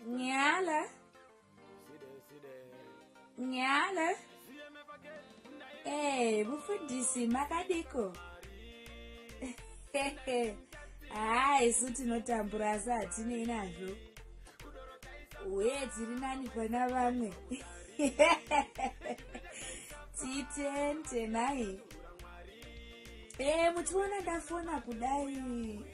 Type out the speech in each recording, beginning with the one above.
Nyala. Nyala. Eh, mufundisi makadiko. Haa ah, isu tinotambura asi hatinei nazvo. Uye tiri nani pana vamwe. Titente naye. Eh, muchiona ndafona kudai.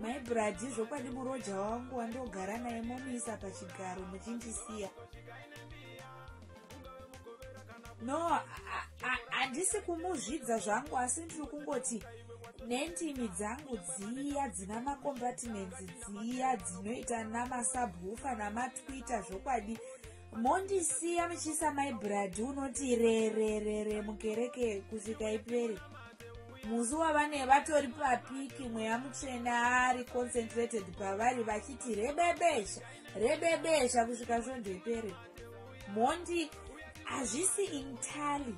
mai bradi zvokwadi muroja wangu wandogara naye momuisa pachigaro muchindisiya no handisi kumuzvidza zvangu asi ndiri kungoti nendimi dzangu dziya dzina macompartments dziya dzinoita namasabhufa namatwitter zvokwadi mondisiya muchiisa mai bradi unoti rererere mukereke kusvika iperi musi wavane vatori papiki mweya mutsvene ari concentrated pavari vachiti rebebesha rebebesha kusvika svondo iperi mondi hazvisi intali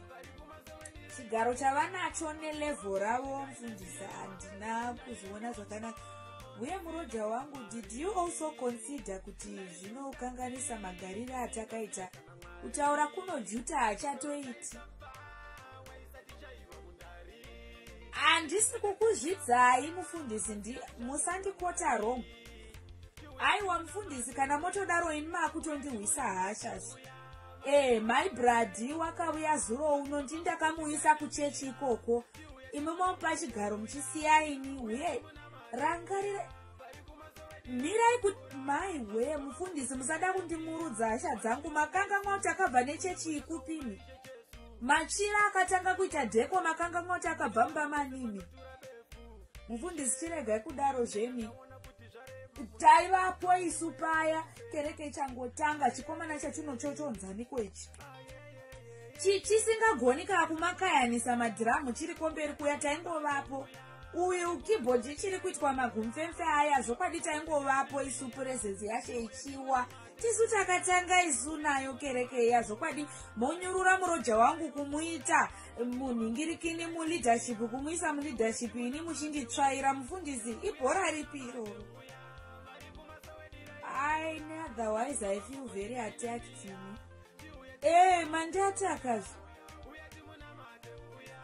chigaro chavanacho nelevho ravo mfundisi handina kuzviona zvakanaka uye muroja wangu did you also consider kuti zvinokanganisa magarire atakaita kutaura kunojuta hachatoiti handisi kukuzvidzai mufundisi ndi musandikota rong aiwa mufundisi kana motodaro ini maakutondihwisa hashas ee mai bradi wakauya zuro uno ndindakamuisa kuchechi ikoko imi momupa chigaro muchisiyaini uye rangarira mirai kuti mai wee mufundisi musada kundimurudza hasha dzangu makanganwa kuti akabva nechechi ikupimi machira akatanga kuita dheko makanganwa kuti akabva mumba manimi mufundisi chiregai kudaro zvemi taivapo isu paya kereke ichangotanga chikomana chatino chochonzaniko ichi chisingagoni kaa kumakayanisa madhiramu chiri komberi kuya taingovapo uyu keyboard ichiri kuitwa magumfemfe aya zvokwadi taingovapo isu purezenzi yashe ichiwa tisu takatanga isu nayo kereke iya zvokwadi monyurura muroja wangu kumuita munhingirikini muleadership kumuisa muleadership ini muchinditsvaira mufundisi ibhora ripi iroro i neotherwise i feel very attacked me ee manje ati akazi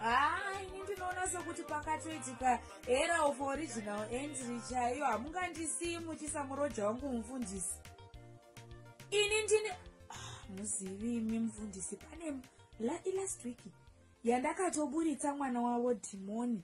haa ah, ini ndinoona sokuti pakatoitika era of original entry chaiyo hamungandisiyi muchisa muroja wangu mufundisi ini ndini ah, muzivi imi mufundisi pane last week yandakatoburitsa mwana wavo dhimoni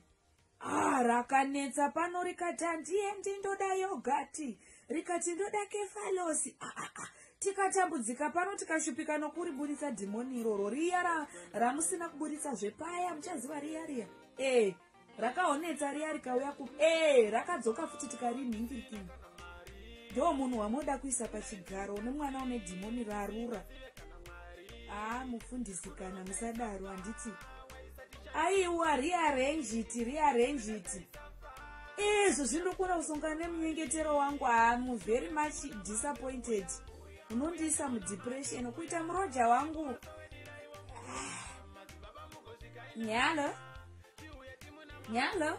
Ah, rakanetsa pano rikati handiendi ndoda yogati rikati ndoda kefalosi ah, ah, ah. tikatambudzika pano tikashupika nokuriburitsa dhimoni iroro riya ra, ramusina kuburitsa zvepaya muchaziva riya riya ee eh, rakaonetsa riya rikauya ku ee eh, rakadzoka futi tikarinhingirikini ndo munhu wamoda kuisa pachigaro une mwana une dhimoni rarura haa ah, mufundisi kana musadaro handiti aiwa rearrange it rearrange it ezvo zvinokona kusongana nemunyengetero wangu amu very much disappointed unondiisa mudepression kuita muroja wangu nyalo nyalo